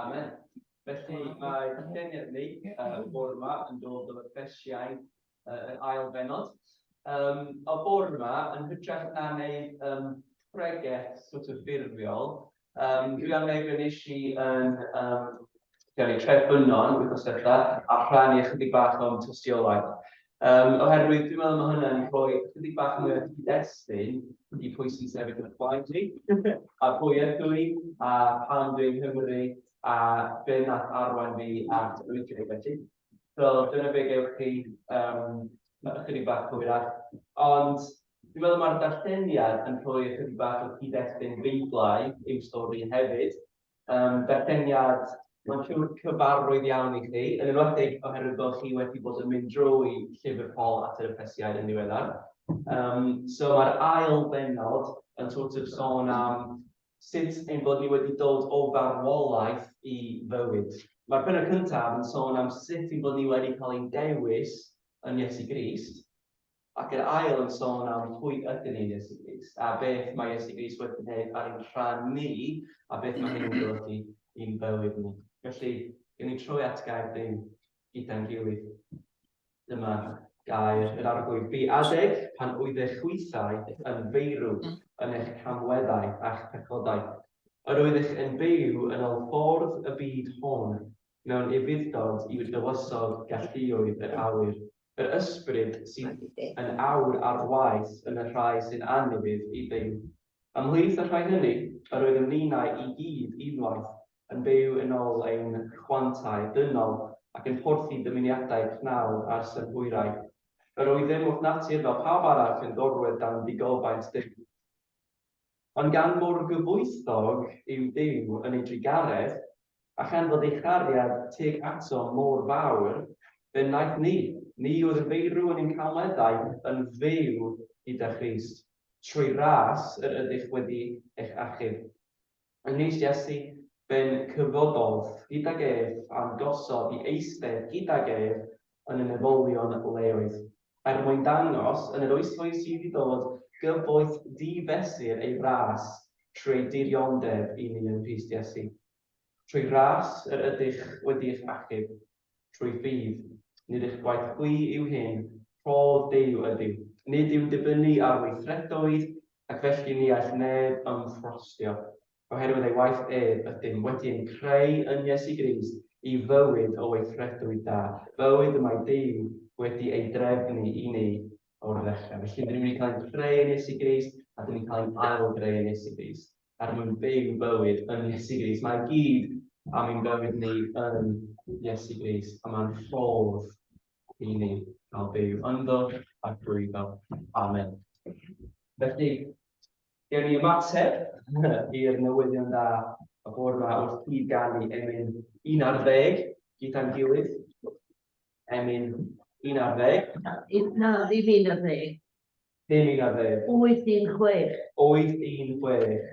Amen. Felly mae lluniau ni uh, bore yma yn dod o'r fersiau uh, yr ail benod. Um, o bore yma, yn hytrach na wneud um, pregeth sort of ffurfiol, um, dwi am wneud rhan eisiau yn um, Dyna ni trefn yno'n wythnos diwetha a rhannu ychydig bach o'n tystiolaeth. Um, oherwydd dwi'n meddwl mae hwnna'n rhoi ychydig bach mwy o cyd-destun i pwy sy'n sefyll yn y blaen i, a pwy ydw i, a pan dwi'n Nghymru, a be nath arwain fi at oedran felly. So dyna fe gewch chi um, ychydig bach cywirach. Ond dwi'n meddwl mae'r darlleniad yn rhoi ychydig bach o cyd-destun beiblau i'w stori hefyd, Yym, berfeniad. Mae'n siŵr cyfarwydd iawn i chi, yn enwedig oherwydd bod chi wedi bod yn mynd drwy Llyfr Paul at yr Effesiaid yn ddiweddar. Yym, so mae'r ail bennod yn sort of sôn am sut ein bod ni wedi dod o farwolaeth i fywyd. Mae'r pennod cyntaf yn sôn am sut ein bod ni wedi cael ein dewis yn Iesu Grist, Ac yr ail yn sôn am pwy ydyn ni yn Iesu Grist, a beth mae Iesu Grist wedi gwneud ar ein rhan ni, a beth mae hynny'n golygu i'n bywyd ni. Felly, gen i troi at gair ddim gyda'n gilydd. Dyma gair yr arglwydd. Bu adeg pan oedd eich hwythau yn feirw yn eich camweddau a'ch pechodau. Yr oeddech yn byw yn ol ffordd y byd hon, mewn ufudd-dod i'r dywysog galluoedd yr awyr, yr ysbryd sydd yn awr ar waith yn y rhai sy'n annwyf i Dduw. Ymhlith y rhai hynny, yr oeddem ninnau i gyd unwaith yn byw yn ôl ein rhwantau dynol ac yn porthi dymuniadau cnawd a'r synhwyrau. Yr oeddem wrth natur fel pawb arall yn gorwedd dan ddigofaint Duw. Ond gan mor gyfoethog yw Duw yn ei drugaredd, a chan fod ei chariad teg ato mor fawr, fe wnaeth ni, ni oedd yn feirw yn ein cawmeddau, yn fyw gyda Christ, trwy ras yr ydych wedi eich achub. Yng Nghrist Iesu, fe'n cyfododd gydag ef, a'n gosod i eistedd gydag ef yn y meddylion leoedd, er mwyn dangos yn yr oesflwydd sydd i ddod gyfoeth di-fesur ei ras trwy ei dirionddeb i ni yn Rhys Iesu. Trwy ras yr ydych wedi eich achub, trwy ffydd, nid eich gwaith chwi yw hyn, rhodd Duw ydyw. Nid yw'n dibynnu ar weithredoedd, ac felly ni all neb ymffrostio. Oherwydd ei waith ef ydym wedi ein creu yn Iesu Grist i fywyd o weithredwyd da, bywyd y mae Duw wedi ei drefnu i ni o'r ddechrau. Felly, rydym wedi cael ein creu yn Iesu Grist a dyn ni'n cael ein ail-greu yn Iesu Grist er mwyn byw bywyd yn Iesu Grist. Mae gyd am ein bywyd ni yn Iesu Grist a mae'n ffordd i ni cael byw ynddo a drwyddo. Amen. Felly, Gewn ni ymateb i'r newyddion da y bore ma wrth gyd ganu Emyn un ar ddeg gyda'n gilydd. Emyn un ar ddeg. Na, ddim un ar ddeg. Ddim un ar ddeg. Wyth un chwech. Wyth un chwech.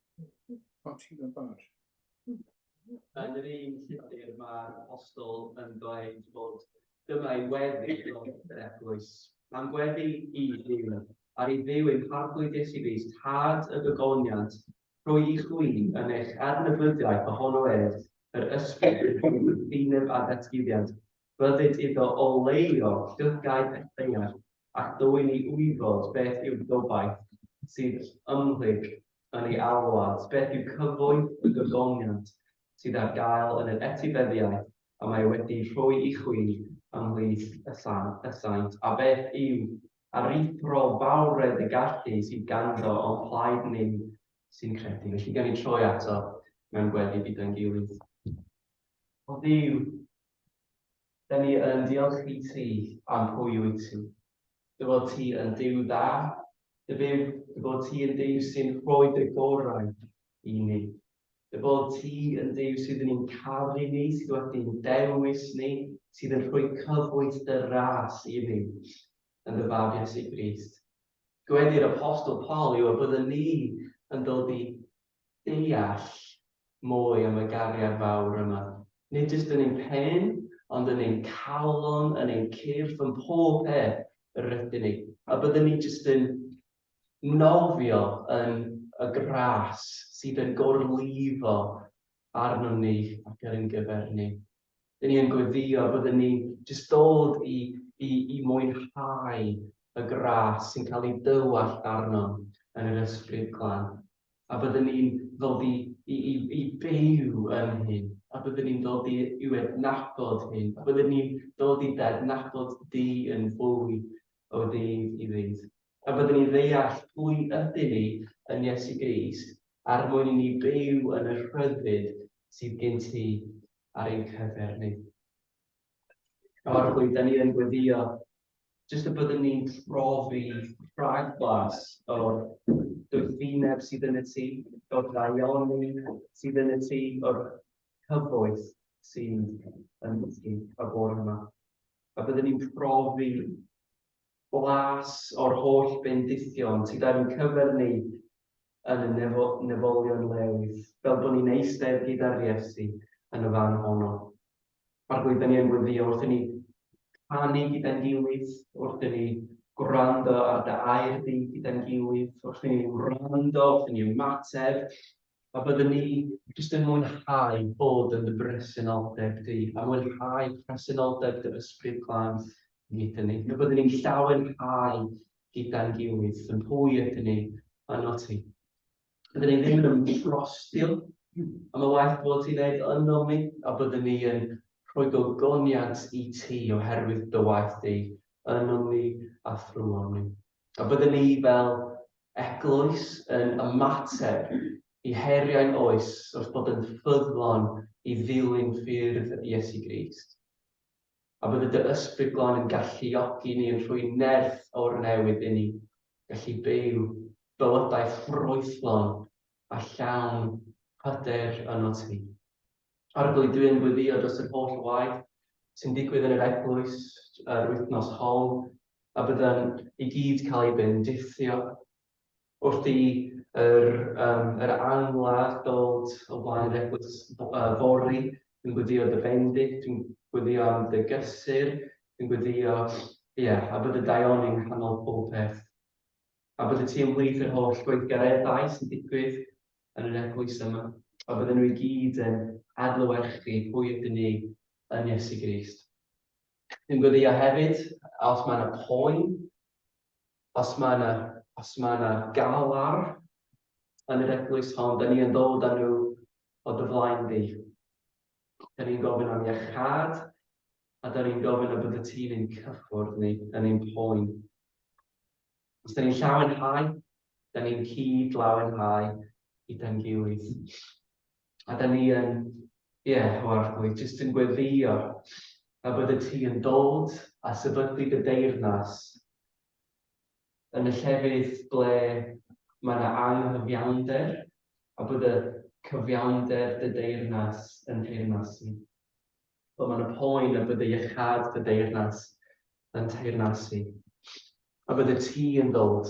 Pati yn bar. Yn yr un llythyr mae'r apostol yn dweud bod dyma ei weddi o yr eglwys. Mae'n gweddi i ddim ar ei ddiw ein harglwy Iesu Grist, tad y gygoniant, rhoi i chwi yn eich adnabyddiaeth ohono ef, yr ysbryd yn ddiwyd ddinyb a datguddiant, Rhyddid iddo oleio llygaid y cyngerdd ac dwyn i wybod beth yw'r gobaith sydd ymhlyg yn ei alwad, beth yw cyfoeth y gogoniant sydd ar gael yn yr etifeddiaeth y mae wedi rhoi i chwi ymhlith y saint, a beth yw aruthrol fawredd y gallu sydd ganddo o'n plaid ni sy'n credu. Felly, gawn ni troi ato mewn gweddi gyda'n gilydd. O Dduw, Da ni yn diolch i ti am pwy wyt ti. Dy fod ti yn Duw dda, dy byw, dy bod ti yn Duw sy'n rhoi dy gorau i ni. Dy bod ti yn Duw sydd yn ein caru ni, sydd wedi'n dewis ni, sydd yn rhoi cyfoeth dy ras i ni yn dy fab Iesu Grist. Gwedir apostol Paul yw y byddwn ni yn dod i deall mwy am y gariad fawr yma, nid jyst yn ein pen, ond yn ein calon, yn ein cyrff, yn pob peth yr rydyn ni, a byddwn ni jyst yn nofio yn y gras sydd yn gorlifo arnom ni ac ar ein gyfer ni. Dyn ni yn gweddïo byddwn ni'n jyst dod i i i mwynhau y gras sy'n cael ei dywallt arnom yn yr Ysbryd Glân. A byddwn ni'n ddod i i i i byw yn hyn. A byddwn ni'n dod i i'w adnabod hyn. A byddwn ni'n dod i dadnabod Duw yn fwy o ddydd i ddydd. Pan fyddwn ni'n deall pwy ydyn ni yn Iesu Grist er mwyn i ni byw yn y rhyddid sydd gen ti ar ein cyfer ni. Nawr pwy da ni yn gweddio, jyst y byddwn ni'n profi rhag blas o'r gyffineb sydd yn y ti, o'r daioni sydd yn y ti, o'r cyfoeth sydd yn y ti, o'r bore yma. A byddwn ni'n profi Blas o'r holl bendithion sydd yn cyfyrnig yn y nefolion leoedd, fel bod ni'n eistedd gyda'r Iesu yn y fan honno. Mae'r gwyddyni yn gweddïo wrthyn ni, canu gyda'n gilydd, wrthyn ni gwrando ar dy air di gyda'n gilydd, wrthyn ni wrando, wrthyn ni ymateb, a byddwn ni jyst yn mwynhau bod yn dy bresenoldeb di, a mwynhau presenoldeb dy Ysbryd Glân Nid yn unig y byddwn ni'n llawen rhai gyda'n gilydd, yn hwy ydyn ni yno ti. Byddwn ni ddim yn ymdrostil am y waith bod ti'n neud yno mi, a byddwn ni yn rhoi gogoniant i ti oherwydd dy waith di yno mi a thrwon ni. A byddwn ni fel eglwys yn ymateb i heriau'n oes wrth bod yn ffyddlon i ddilyn ffyrdd Iesu Grist. a bydde dy Ysbryd Glân yn galluogi ni yn rhoi nerth o'r newydd inni, gallu byw bywydau ffrwythlon a llawn hyder yno ti. Arglwydwi yn gweddïo dros yr holl waith sy'n digwydd yn yr eglwys yr wythnos hon, a byddwn i gyd cael ei bendithio Wrth i yr ail ladd ddod o flaen yr eglwys fory, dwi'n gweddïo dy fendith, dwi'n gweddïo am dy gysur, dwi'n gweddïo, ie, a bod y daioni yng nghanol popeth. A bod y ti ymhlith yr holl gweithgareddau sy'n digwydd yn yr eglwys yma, a bydden nhw i gyd yn adlewyrchu pwy ydyn ni yn Iesu Grist. Dwi'n gweddïo hefyd, os mae yna poen, Os mae 'na, os mae 'na gael ar yn yr eglwys hon, da ni yn ddod â nhw o dy flaen di. Da ni'n gofyn am iachad, a da ni'n gofyn y bod y tîm yn cyffwrdd ni, yn ein poen. Os da ni'n llawenhau, da ni'n cyd-lawenhau i dan gilydd. A da ni yn, ie, Hywarthwy, jyst yn gweddïo a byddet ti yn dod a sefydlu dy deyrnas yn y llefydd ble mae yna anghyfiawnder a bod y cyfiawnder dy deyrnas yn teyrnas i. Ble mae yna poen a bod y iechad dy deyrnas yn teyrnas i. A byddet ti yn dod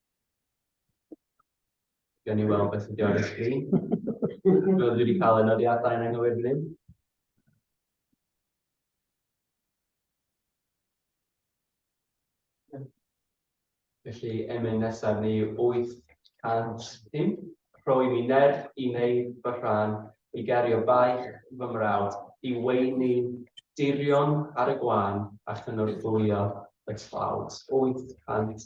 Gan i weld beth ydi ar y sgrin. Rydw i wedi cael yn odiadau yn anghywir fan hyn. Felly, emyn nesaf ni 805. Rhoi mi nerth i wneud fy rhan, i gario baich fy mrawd, i weini dirion ar y gwan a chynorthwyo y tlawd. 800.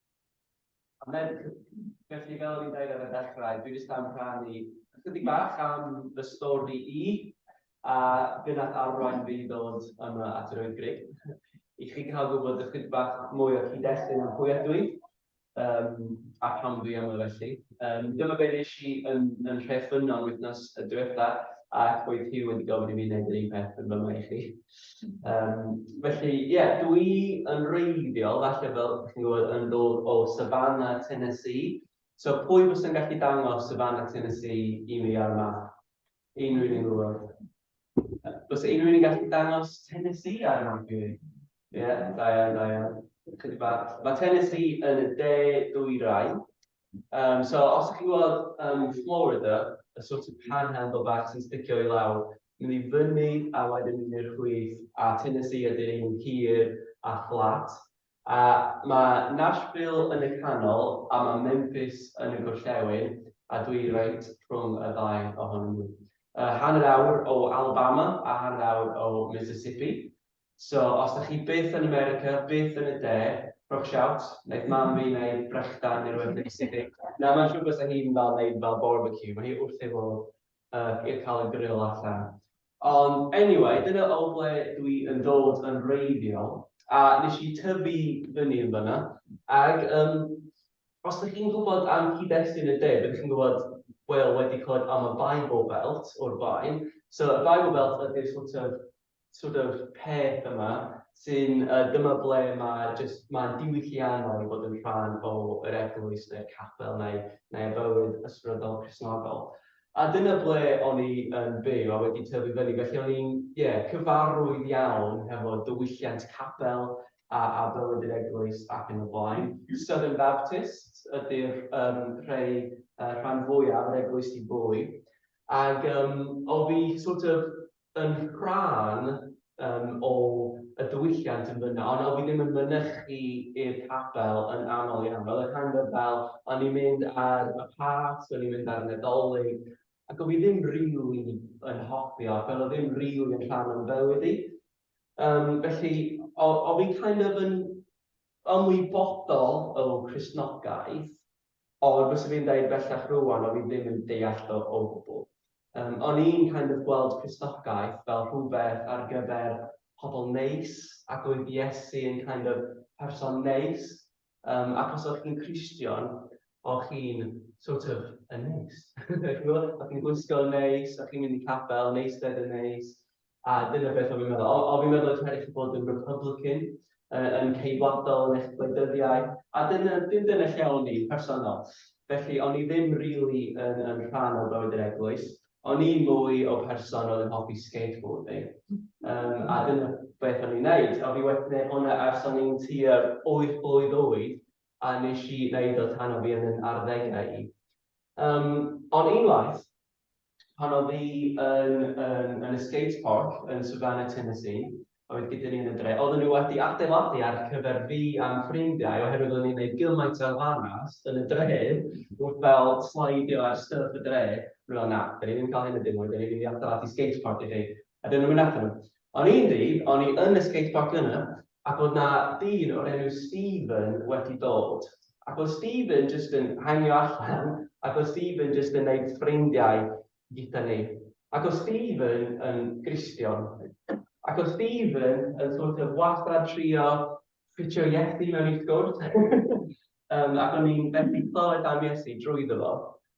A Merc, felly fel o'n i'n dweud ar y dechrau, dwi jyst am rhannu ychydig bach am fy stori i, a be nath arwain fi i ddod yma at yr Wyddgrug, i chi cael gwybod ychydig bach mwy o cyd-destun am pwy ydw i, um, a pam dwi yma felly. Um, dyma be nes i yn, yn rhef ffynnon wythnos y diwetha, ac oedd hi wedi gofyn i mi wneud yr un peth yn fy i chi. Um, felly, ie, yeah, dwi yn reiddiol, falle fel chi'n gwybod, yn dod o Savannah, Tennessee. So, pwy fos yn gallu dangos Savannah, Tennessee i mi ar y map? Unrhyw un gwybod? Fos unrhyw un gallu dangos Tennessee ar y map i mi? Ie, yeah, da iawn, da iawn. Mae Tennessee yn y de dwy rai. Um, so, os ydych chi'n gweld um, Florida, y sort of panhandle bach sy'n sticio i lawr, mynd i fyny a wedyn mynd i'r chwith, a Tennessee ydy'r un hir a fflat. A mae Nashville yn y canol, a mae Memphis yn y gorllewin, a dwi reit rhwng y ddau ohonyn nhw. Uh, hanner awr o Alabama a hanner awr o Mississippi. So os dach chi byth yn America, byth yn y de, rhowch shout, wneith mam fi wneud brechdan neu rhywbeth neis i chi. Na, mae'n siŵr bysa hi'n fel wneud fel barbecue, mae hi wrth ei fodd yy i cael y grill allan. Ond anyway, dyna o ble dwi yn dod yn wreiddiol, a nes i tyfu fyny yn fan'na, ag yym os dych chi'n gwybod am cyd-destun y de, byddwch chi'n gwybod, wel, wedi clywed am y Bible Belt o'r blaen. So y Bible Belt ydy'r sort of sort of peth yma sy'n, uh, dyma ble mae just, mae'n diwylliannol i fod yn rhan o yr eglwys neu'r capel neu, neu y bywyd ysbrydol Cresnogol. A dyna ble o'n i yn byw a wedi tyfu fyny, felly o'n i'n yeah, cyfarwydd iawn hefo diwylliant capel a, a bywyd yr eglwys ac yn y blaen. Southern Baptist ydy'r um, rhai uh, rhan fwyaf yr eglwys i bwy. Ac um, o fi sort of yn rhan um, o y diwylliant yn fyna, ond oedd hi ddim yn mynychu i'r capel yn aml iawn. Oedd y rhan fel, o'n i'n mynd ar y pas, o'n i'n mynd ar y Nadolig, ac oedd hi ddim rili really yn hoffi o, ac oedd ddim rili really yn rhan o'n bywyd i. Um, felly, oedd hi kind of yn ymwybodol o Cresnogaeth, Ond byswn i'n deud bellach rŵan o'n i ddim yn deall o o gwbl. Yym, o'n i'n kind of gweld Cristogaeth fel rhywbeth ar gyfer pobl neis, ac oedd Iesu yn kind of person neis. Yym, ac os o'ch chi'n Cristion, o'ch chi'n sort of yn neis. Chi'n gwybod? O'ch chi'n gwisgo'n neis, o'ch chi'n mynd i capel, neis ded yn neis. A dyna beth o fi'n meddwl. O, o fi'n meddwl eich rhaid chi bod yn Republican, uh, yn ceidwadol yn eich gwleidyddiaeth, a dyna, dim dyna lle o'n i'n personol. Felly, o'n i ddim rili really yn, yn rhan o bywyd yr eglwys. O'n i'n mwy o person oedd yn hoffi skateboarding. Um, a dyna beth o'n i'n neud. A fi wedi gwneud hwnna ers o'n i'n tua'r 8 blwydd oed, a nes i wneud o tan o fi yn yn arddegau i. Um, ond unwaith, Pan oedd hi yn, yn, yn y skate park yn Savannah, Tennessee, oedd gyda ni yn y dre. Oedden nhw wedi adeiladu ar cyfer fi a'm ffrindiau oherwydd o'n ni'n gwneud gymaint o elfannau yn y dre wrth fel slidio ar stwff y dre. O'n nhw'n meddwl, na, 'da ni ddim yn cael hyn yn dim mwy, 'da ni'n mynd i adeiladu skate park i chi. A 'dyn nhw'n mynd allan nhw. On un dydd o'n i yn y skatepark yna ac o'dd 'na dyn o'r enw Stephen wedi dod ac o'dd Stephen jyst yn hangio allan ac o'dd Stephen jyst yn neud ffrindiau gyda ni ac o'dd Stephen yn Gristion ac o'dd Stephen yn sort of wastad trio ffitio Iesu mewn i sgwrs yym ac o'n i'n methu clywed am Iesu drwyddo fo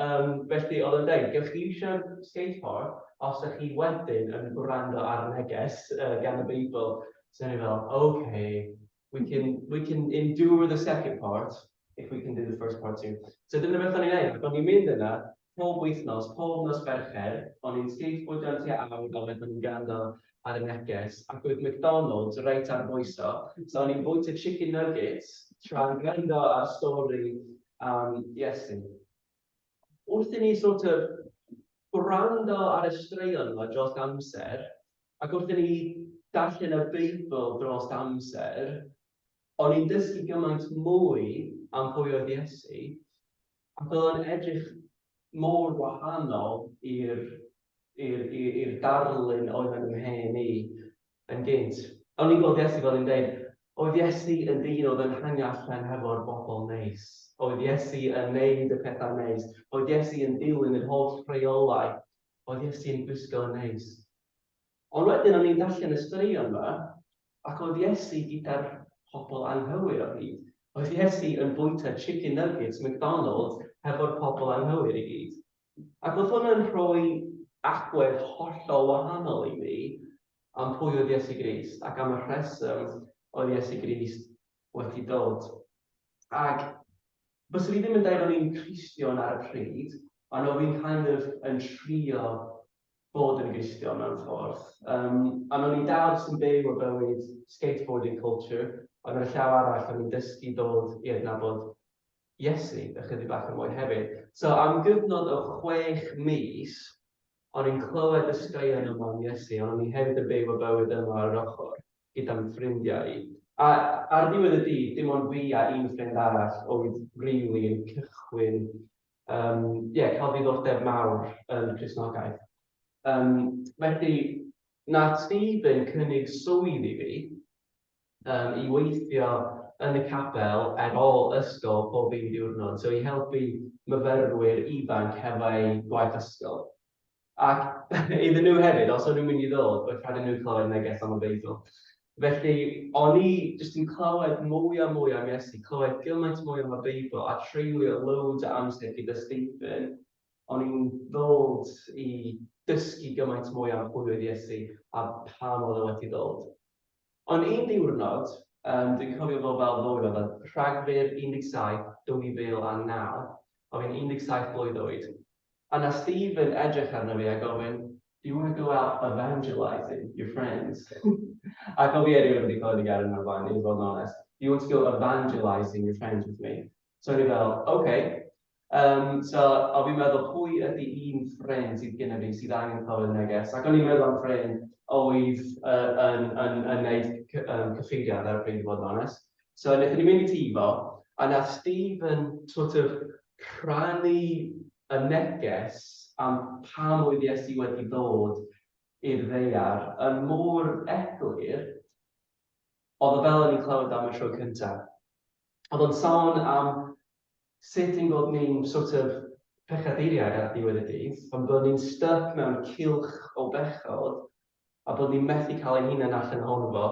Yym, felly oedd o'n deud, gewch chi iwsio'r Skate Park os ydych chi wedyn yn gwrando ar neges yy gan y Beibl. So o'n i fel, ok, we can we can endure the second part if we can do the first part too. So dyna beth o'n i'n wneud, ac o'n i'n mynd yna pob wythnos, pob nos Fercher, o'n i'n skateboardio am tua awr a wedyn o'n i'n gwrando ar y neges ac oedd McDonalds reit ar y bwyso, so o'n i'n bwyta chicken nuggets tra'n gwrando ar stori am Iesu. Wrth i ni sort of gwrando ar y straeon yma dros amser, ac wrth i ni darllen y Beibl dros amser, o'n i'n dysgu gymaint mwy am pwy oedd Iesu, A bydd o'n edrych mor wahanol i'r i'r i'r i'r darlun oedd yn ymhen i yn gynt. O'n i'n gweld Iesu fel yn deud, oedd Iesu yn ddyn oedd yn hango allan hefo'r bobl neis. Oedd Iesu yn neud y pethau neis. Oedd Iesu yn dilyn yr holl rheolau. Oedd Iesu yn gwisgo yn neis. Ond wedyn o'n i'n darllen y straeon yma, Ac oedd Iesu gyda'r pobl anghywir o hyd? Oedd Iesu yn bwyta chicken nuggets McDonalds hefo'r pobl anghywir i gyd? Ac oedd hwn yn rhoi agwedd hollol wahanol i ni am pwy oedd Iesu Grist ac am y rheswm oedd Iesu Grist wedi dod. Ac bysa fi ddim yn deud o'n i'n Cristion ar y pryd, ond o fi'n kind of yn trio bod yn glustion mewn ffordd. Um, a o'n i'n dal jyst yn byw o bywyd skateboarding culture, ond ar y llaw arall o'n i'n dysgu dod i adnabod Iesu ychydig bach yn mwy hefyd. So am gyfnod o chwech mis, o'n i'n clywed y straeon yma am Iesu, ond o'n i hefyd yn byw o bywyd yma ar yr ochr gyda'n ffrindiau i. A ar ddiwedd y dydd, dim ond fi a un ffrind arall oedd rili yn cychwyn um, yeah, cael ddiddordeb mawr yn Cresnogaeth. Um, felly, na Stephen cynnig swydd i fi um, i weithio yn y capel ar ôl ysgol pob un diwrnod, so i helpu myfyrwyr ifanc hefo'u gwaith ysgol. Ac iddyn nhw hefyd, os o'n nhw'n mynd i ddod, oedd rhaid iddyn nhw clywed neges am y Beibl. Felly, o'n i jyst yn clywed mwy a mwy am Iesu, clywed gymaint mwy am y Beibl a treulio loads o amser gyda Stephen. O'n i'n ddod i dysgu gymaint mwy am pwy oedd Iesu a pam oedd e wedi dod. Ond un diwrnod, um, dwi'n cofio fo fel fwy oedd Rhagfyr 17, 2009, oedd yn 17 blwydd oed, Yna Steve yn edrych arno fi a gofyn, Do you want to go out evangelising your friends? a co fi erioed wedi clywed y gair yna o'r blaen, i fod yn onest. Do you want to go evangelising your friends with me? So o'n i fel, OK. Yym, so o'n fi'n meddwl, pwy ydy un ffrind sydd gyda fi sydd angen clywed neges? Ac o'n i'n meddwl am ffrind oedd yy yn yn yn wneud cy- yym cyfeiriad ar y pryd, i fod yn onest. So wnaethon ni mynd i tŷ fo, a wnaeth Steve yn sort of rhannu y neges am pam oedd Iesu wedi ddod i'r ddaear yn mor eglur, oedd o fel o'n i'n clywed am y tro cynta. Oedd o'n sôn am sut ein bod ni'n sort of pechaduriaid ar ddiwedd y dydd, ond bod ni'n styc mewn cylch o bechod, a bod ni'n methu cael ein hunain allan ohono fo.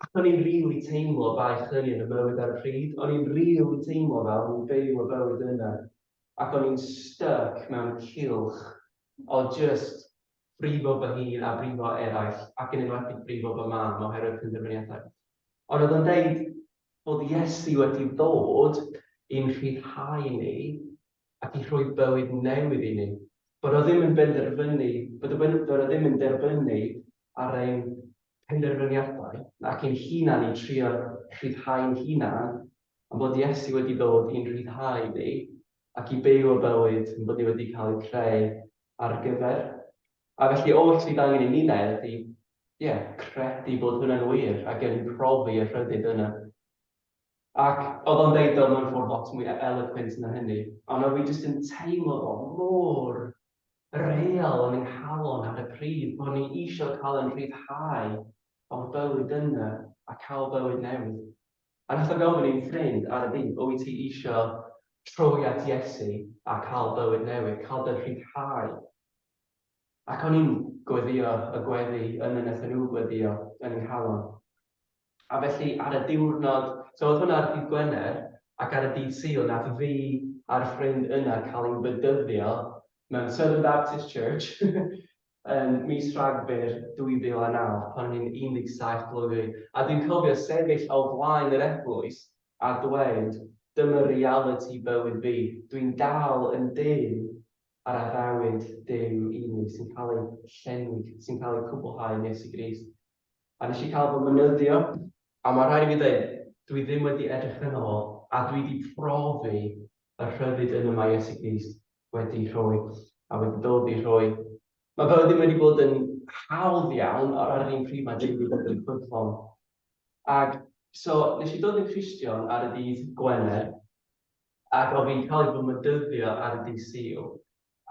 Ac o'n i'n rili teimlo baich hynny yn y mywyd ar y pryd, o'n i'n rili teimlo fel o'n i'n byw y bywyd yna ac o'n i'n styc mewn cylch o jyst brifo fy hun a brifo eraill ac yn enwedig brifo fy mam oherwydd penderfyniadau. Ond oedd o'n deud bod Iesu wedi dod i'n rhyddhau ni ac i rhoi bywyd newydd i ni. Bod o ddim yn benderfynu, bod y Weinidog ddim yn derbynu ar ein penderfyniadau nac ein hunan i trio rhyddhau'n hunan, ond bod Iesu wedi dod i'n rhyddhau ni ac i byw y bywyd ein bod ni wedi cael ei creu ar gyfer. A felly oll sydd angen i ni wneud ydy, ie, credu bod hwnna'n wir ac yn profi y rhyddid yna. Ac oedd o'n deud o mewn ffordd lot mwy eloquent na hynny, ond oedd hi jyst yn teimlo fo mor real yn ei halon ar y pryd, bod ni eisiau cael yn rhyddhau o'r bywyd yna a cael bywyd newydd. A wnaeth o gofyn i'n ffrind ar y dydd, wyt ti eisiau troi at Iesu a cael bywyd newydd, cael dy rhyddhau? Ac o'n i'n gweddïo y gweddi yn y wnaethon nhw gweddïo yn eu halon. A felly ar y diwrnod, so oedd hwnna ar ddydd Gwener, ac ar y dydd Sul nath fi a'r ffrind yna cael ein bedyddio mewn Southern Baptist Church yn mis Rhagfyr 2009 pan o'n i'n 17 blwydd oed, a dwi'n cofio sefyll o flaen yr eglwys a dweud, dyma realiti bywyd fi, dwi'n dal yn dyn ar addewid Duw unig sy'n cael ei llenwi, sy'n cael ei cwblhau yn Iesu Grist. a nes i cael fy mynyddio, a ma rhaid i fi ddeud, dwi ddim wedi edrych yno fo, a dwi di profi y rhyddid yna ma Iesu Grist wedi rhoi, a wedi dod i rhoi. Ma fe ddim wedi bod yn hawdd iawn, ond ar yr un pryd ma Duw wedi bod yn ffyddlon. Ac so, nes i dod yn Cristion ar y dydd Gwener, ac o fi'n cael ei fy mynyddio ar y dydd Sul,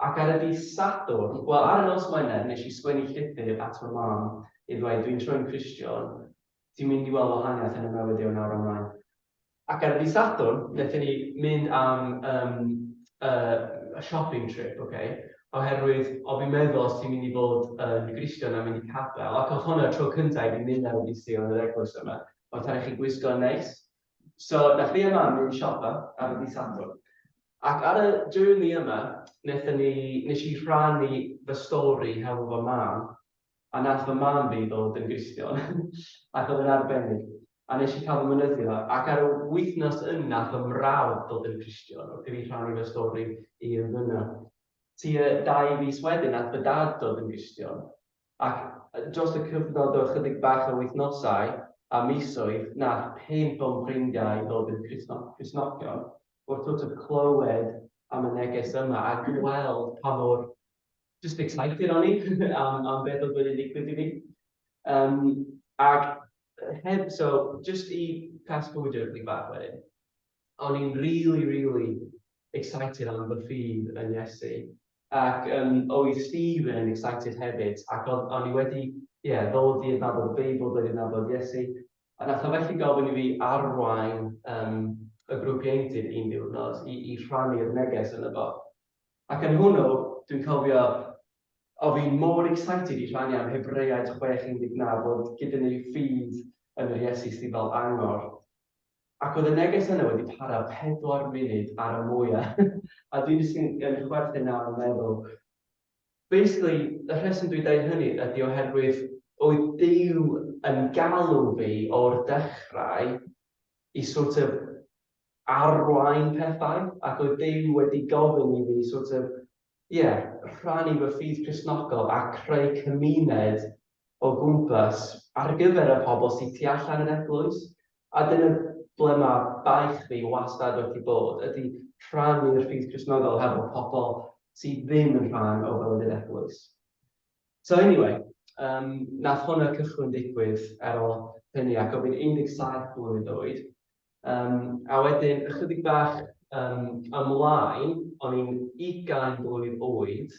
Ac ar y dydd Sadwrn, wel, ar y nos Wener, nes i sgwennu llythyr at fy mam i ddweud, dwi'n troi'n Gristion, ti'n mynd i weld wahaniaeth yn y mewyddi o nawr ymlaen. Ac ar y dydd Sadwrn, nethon ni mynd am yym yy shopping trip, ok, oherwydd o' fi'n meddwl os ti'n mynd i fod yn Gristion a mynd i capel, ac o'dd hwn y tro cynta i fi mynd ar y dydd Sul yn yr eglwys yma, o'dd rhaid i chi gwisgo'n neis. So, nath fi a mam mynd i siopa ar y dydd Sadwrn. Ac ar y journey yma, wnaethon ni, wnes i rhannu fy stori hefo fy mam, a wnaeth fy mam fi ddod yn Gristion, ac oedd yn arbennig, a wnes i cael fy mynyddio, ac ar y wythnos yna wnaeth fy mrawd ddod yn Gristion, wrth i fi rhannu fy stori i ymddyno. Tua dau fis wedyn wnaeth fy dad ddod yn Gristion, Ac dros y cyfnod o ychydig bach o wythnosau a misoedd nath pump o'm ffrindiau ddod yn Cristnogion, wrth sort of clywed am y neges yma a gweld pa mor just excited o'n i am am beth oedd wedi digwydd i fi. Yym ac heb so just i fast forwardio ychydig bach wedyn, o'n i'n rili rili excited am fy ffydd yn Iesu Ac yym oedd Stephen yn excited hefyd ac oedd o'n i wedi ie ddod i adnabod y Beibl, dod i adnabod Iesu a wnaeth o felly gofyn i fi arwain yym y grŵp ieuenctid un diwrnod i i rhannu'r neges yno fo. Ac yn hwnnw dwi'n cofio o fi'n mor excited i rhannu am Hebreaid chwech un deg naw bod gyda ni ffydd yn yr Iesu sydd fel angor. Ac oedd y neges yna wedi para pedwar munud ar y mwyau. a dwi'n jyst yn, yn chwerthin nawr yn meddwl. Basically, y rheswm dwi'n dweud hynny ydy oherwydd oedd Dyw yn galw fi o'r dechrau i sort of arwain pethau, ac oedd Dyw wedi gofyn i fi sort of ie, rhannu fy ffydd Cristnogol a creu cymuned o gwmpas ar gyfer y pobl sy tu allan i'r eglwys, a dyna ble mae baich fi wastad wedi bod, ydy rhannu'r ffydd Cristnogol hefo pobl sy ddim yn rhan o fywyd yr eglwys. So anyway, um, nath hwnna cychwyn digwydd ar ôl hynny ac o fi'n 17 blwydd oed, Um, a wedyn, ychydig bach um, ymlaen, o'n i'n 20 blwydd oed,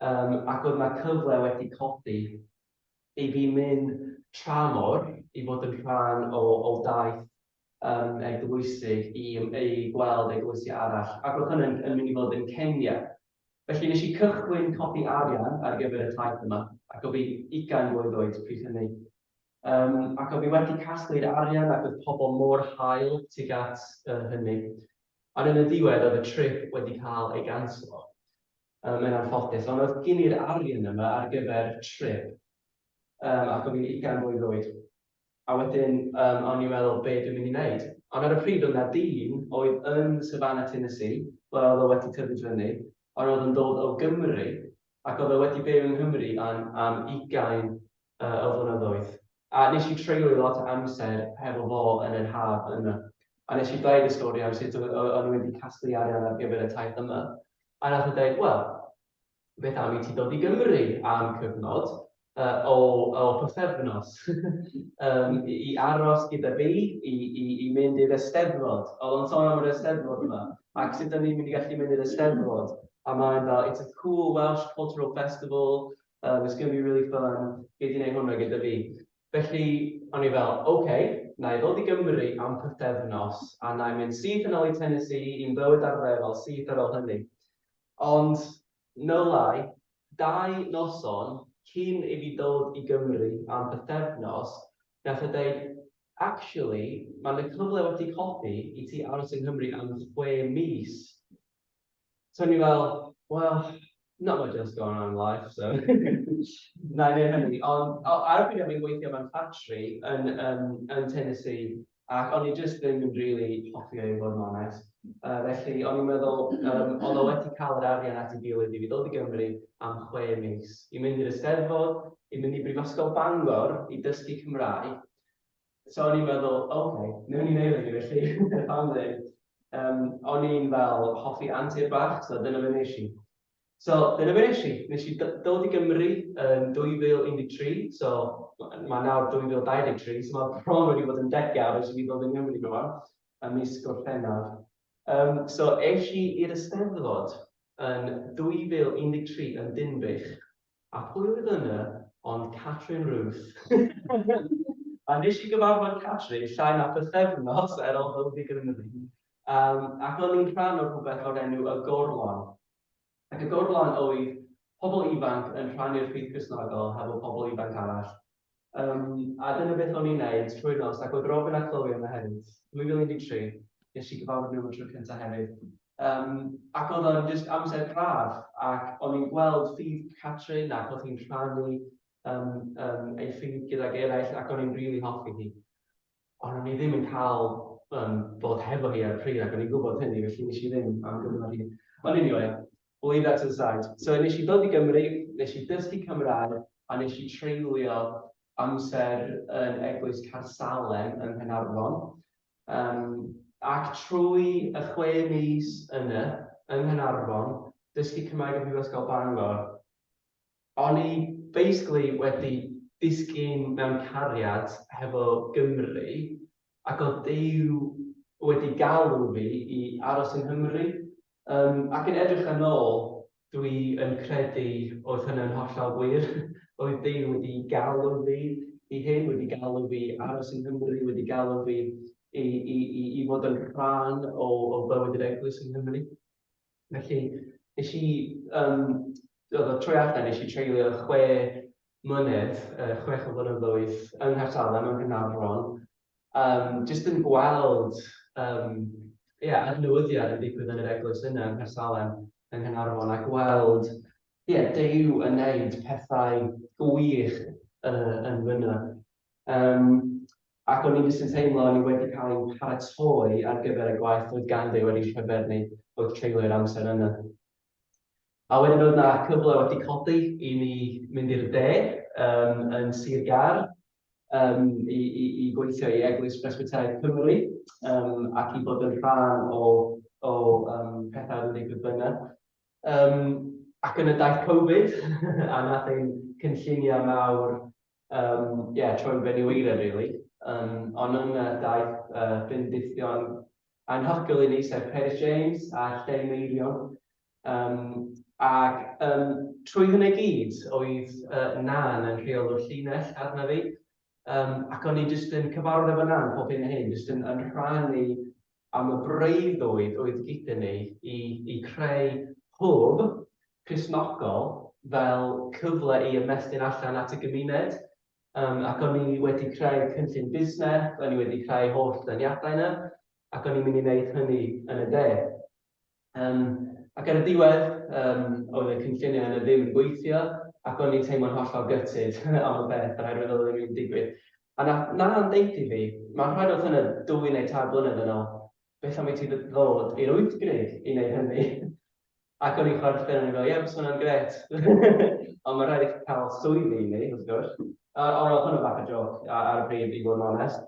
um, ac oedd yna cyfle wedi codi i fi mynd tramor i fod yn rhan o, o daith um, eglwysig i, ei gweld eglwysi arall, ac oedd hynny'n yn mynd i fod yn Kenya. Felly nes i cychwyn codi arian ar gyfer y taith yma, ac o fi 20 blwydd oed pryd hynny. Um, ac oedd hi wedi casglu'r arian ac oedd pobl mor hael tuag at uh, hynny. Ond yn y diwedd oedd y trip wedi cael ei ganslo. Um, mae'n anffodus, ond oedd gen i'r arian yma ar gyfer trip. Um, ac oedd hi'n ugain mlwydd oed. A wedyn, um, o'n i'n meddwl be dwi'n mynd i wneud. Ond ar y pryd oedd na dyn oedd yn Savannah, Tennessee, ble oedd o wedi tyfu fyny, ond oedd yn dod o Gymru, ac oedd o wedi byw yng Nghymru am, am ugain yy y flynyddoedd. A nes i treulio lot o amser hefo fo yn yr haf yna. A nes i ddeud y stori am sut o- o- o'n i wedi casglu arian ar gyfer y taith yma. A nath e deud, wel, beth am i ti dod i Gymru am cyfnod yy o o pythefnos yym i i aros gyda fi, i i i mynd i'r Eisteddfod. O'dd o'n sôn am yr Eisteddfod yma, ac sut o'n i'n mynd i gallu mynd i'r Eisteddfod. A ma' yn fel, it's a cool Welsh cultural festival, Um, it's going to be really fun. Gei di wneud hwnna gyda fi. Felly, o'n i fel, oce, okay, na i ddod i Gymru am pythefnos, a na i mynd syth yn ôl i Tennessee i'n bywyd ar lefel syth ar ôl hynny. Ond, no lie, dau noson cyn i fi dod i Gymru am pythefnos, gath e dweud, actually, mae'n y cyfle wedi codi i ti aros yng Nghymru am chwe mis So o'n i fel, well, not much else going on in life, so na i wneud hynny. Ond o- ar y pryd o'n i'n gweithio mewn ffatri yn yym yn Tennessee ac o'n i jyst ddim yn rili hoffi o i fod yn onest. Yy felly o'n i'n meddwl yym oedd o wedi cael yr arian at ei gilydd i fi ddod i Gymru am chwe mis i mynd i'r Eisteddfod, i mynd i Brifysgol Bangor i dysgu Cymraeg So o'n i'n meddwl, oce, okay, newn ni wneud hynny felly, pam ddim. Um, o'n i'n fel hoffi antur bach, so dyna fe nes i. So dyna fe nes i. Nes i dod i Gymru yn 2013, so mae nawr 2023, so mae bron wedi bod yn degawd ers i fi ddod i Gymru nhw fan, a mis Gorffennaf. Um, so eisiau i'r Eisteddfod yn 2013 yn Dinbych, A pwy oedd yna ond Catrin Ruth! A nes i gyfarfod Catrin llai na pythefnos ar ol fy ddigrynyddu, yym, ac o'n i'n rhan o rhywbeth o'r enw Y Gorlan. Ac y gorlan oedd pobl ifanc yn rhannu'r rhith Gristnogol hefo pobl ifanc arall, Yym, a dyna beth o'n i'n neud trwy'r nos, ac oedd Robin a Chloe yna hefyd. 2013, ges i gyfarfod nhw am y tro cyntaf hefyd. Um, ac oedd o'n just amser braf, ac o'n i'n gweld ffydd Catrin ac oedd hi'n rhannu um, um, ei ffydd gydag eraill, ac o'n i'n rili really hoffi hi. Ond o'n i ddim yn cael um, bod hefo hi ar pryd ac o'n i'n gwybod hynny, felly nes i ddim am gyfnod hir. Ond anyway, we'll leave that to the side. So nes i dod i Gymru, nes i dysgu Cymraeg a nes i treulio amser yn Eglwys Carsalen yn Nghanarfon. Um, ac trwy y chwe mis yna, yng Nghanarfon, dysgu Cymraeg yn Prifysgol Bangor, O'n i basically wedi disgyn mewn cariad hefo Gymru ac o'dd Duw wedi galw fi i aros yng Nghymru. Yym ac yn edrych yn ôl dwi yn credu oedd hynna'n hollol wir, oedd Duw wedi galw fi i hyn, wedi galw fi i aros yng Nghymru, wedi galw fi i i i i fod yn rhan o o bywyd yr Eglwys yng Nghymru. Felly, nes i, um, oedd y trwy allan, nes i treulio chwe mlynedd, uh, chwech o flynyddoedd yng Nghaersalem, yng Nghynarfon, um, jyst yn gweld um, yeah, adnewyddiad yn digwydd yn yr eglwys yna yng Nghyrsalem, yng Nghynarfon, a gweld yeah, Dew yn neud pethau gwych uh, yn fyna. Um, Ac o'n i jyst yn teimlo o'n i wedi cael ein paratoi ar gyfer y gwaith oedd ganddi wedi llyfr ni wrth treulio yr amser yna. A wedyn oedd na cyfle wedi codi i ni mynd i'r de um, yn Sir Gar um, i, i, i gweithio i Eglwys Presbyteraidd Cymru um, ac i bod yn rhan o, o um, pethau oedd yn digwydd byna. Um, ac yn y daith Covid, a nath ein cynlluniau mawr Yym, ie, troi'n fenyweiren rili. Yym, ond yna daeth yy bendithion anhygoel i ni, sef Peris James a Lleu Meirion. Yym, ac yym, trwy hynna i gyd, oedd yy Nan yn rheolwr llinell arna fi. Yym, ac o'n i jyst yn cyfarfod efo Nan pob hyn a hyn, jyst yn yn rhannu am y breuddwyd oedd gyda ni i, i creu hwb Cristnogol fel cyfle i ymestyn allan at y gymuned. Um, ac o'n i wedi creu cynllun busnes, o'n i wedi creu holl daniadau yna, ac o'n i'n mynd i wneud hynny yn y de. Um, ac ar y diwedd, um, oedd y cynlluniau yna ddim yn gweithio, ac o'n i'n teimlo'n hollol gytid am y beth, oherwydd oedd yn digwydd. A na, na na'n deud i fi, mae'n rhaid oedd hynny dwy neu tair blynedd yn ôl, beth am i ti ddod i'r wyth grig i wneud hynny? Ac o'n i'n chwerthin, o'n i'n fel, ie, bys hwnna'n gret. Ond mae'n rhaid i chi cael swyddi i ni, wrth gwrs. Ond oedd hwnna bach o joc ar y bryd, i fod yn onest.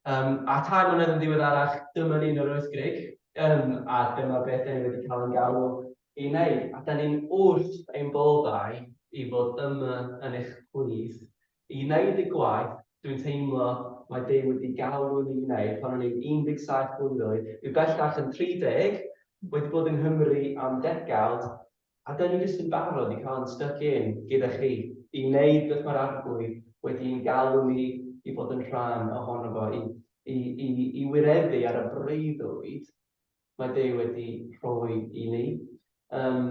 Yym, a tair mlynedd yn ddiweddarach, dyma ni'n yr Oes Grug. Yym, a dyma beth 'da ni wedi cael ein galw i wneud. A 'da ni'n wrth ein boddau i fod yma yn eich plith, i wneud y gwaith dwi'n teimlo mae Duw wedi galw ni i wneud pan o'n i'n 17 blwydd oed, dwi bellach yn 30, wedi bod yng Nghymru am degawd, A dyn ni jyst yn barod i cael yn styc in gyda chi. I wneud beth mae'r Arglwydd wedi i'n galw ni i fod yn rhan ohono fo, i, i, i, i wireddu ar y breuddwyd mae Duw wedi rhoi i ni. Um,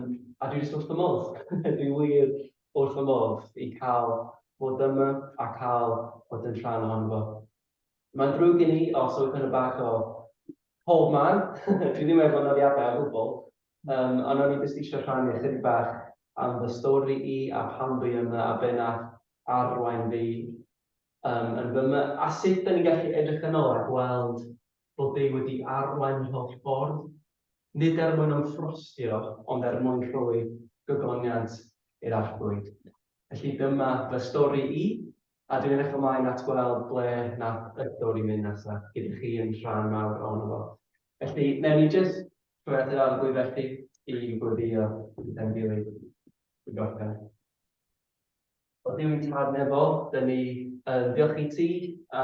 a dwi jyst wrth fy modd, dwi wir wrth fy modd i cael bod yma a cael bod yn rhan ohono fo. Mae'n ddrwg gen i os oes yna bach o pob man, dwi ddim efo nodiadau o gwbl, um, ond o'n i jyst eisiau rhannu ychydig bach am fy stori i a pam dwi yma a be nath arwain fi um, yn fy yma a sut da ni'n gallu edrych yn ôl a gweld bod Duw wedi arwain yr holl ffordd, nid er mwyn ymffrostio, ond er mwyn rhoi gogoniant i'r arglwydd. Felly dyma fy stori i, A dwi'n edrych ymlaen at weld ble nath Ydwr i mynd nesa, gyda chi yn rhan mawr ohono fo. Felly, newn ni jyst troi at yr arglwydd felly, i gweddïo i Ben-dili i gorffen. O Dduw i'n Tad Nefol, dyn ni yn ddiolch i ti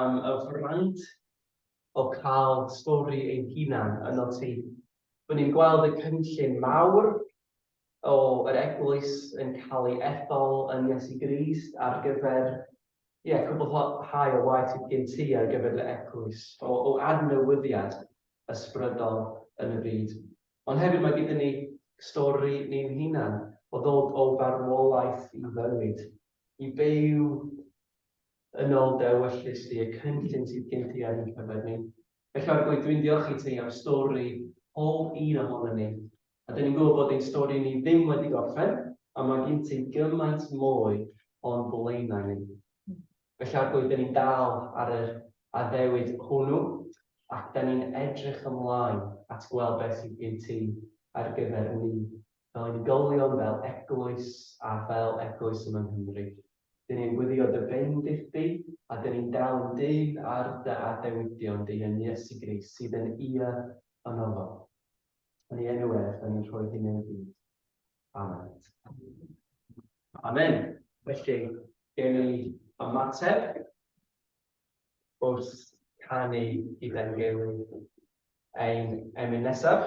am y fraint o cael stori ein hunan yno ti, R'yn ni'n gweld y cynllun mawr o yr Eglwys yn cael ei ethol yn Iesu Grist ar gyfer, ie, cwblhau y waith sydd gen ti ar gyfer dy Eglwys, o o adnewyddiad ysbrydol yn y byd. Ond hefyd mae gyda ni stori ni'n hunan o ddod o farwolaeth i fywyd, i byw yn ol dewyllys di, y cynllun sydd gen ti ar ein cyfer ni. Felly o'r gwaith dwi'n diolch i ti am stori pob un ohonon ni. A dyn ni'n gwybod bod ein stori ni ddim wedi gorffen, a mae gin ti gymaint mwy o'n blaenau ni. Felly o'r gwaith dyn ni'n dal ar yr addewid hwnnw, ac dyn ni'n edrych ymlaen at gweld beth sydd gin ti ar gyfer ni. fel unigolion, fel eglwys a fel eglwys yma yng Nghymru. Dyn ni'n gweddio dy bendith di, a dyn ni'n dal yn dyn ar dy adewidion di yn Iesu Grist sydd yn ia yn ofo. Yn ei enw ef, dyn ni'n rhoi hyn ei gyd. Amen. Amen. Felly, gen i ymateb wrth canu gyda'n gilydd ein emyn nesaf.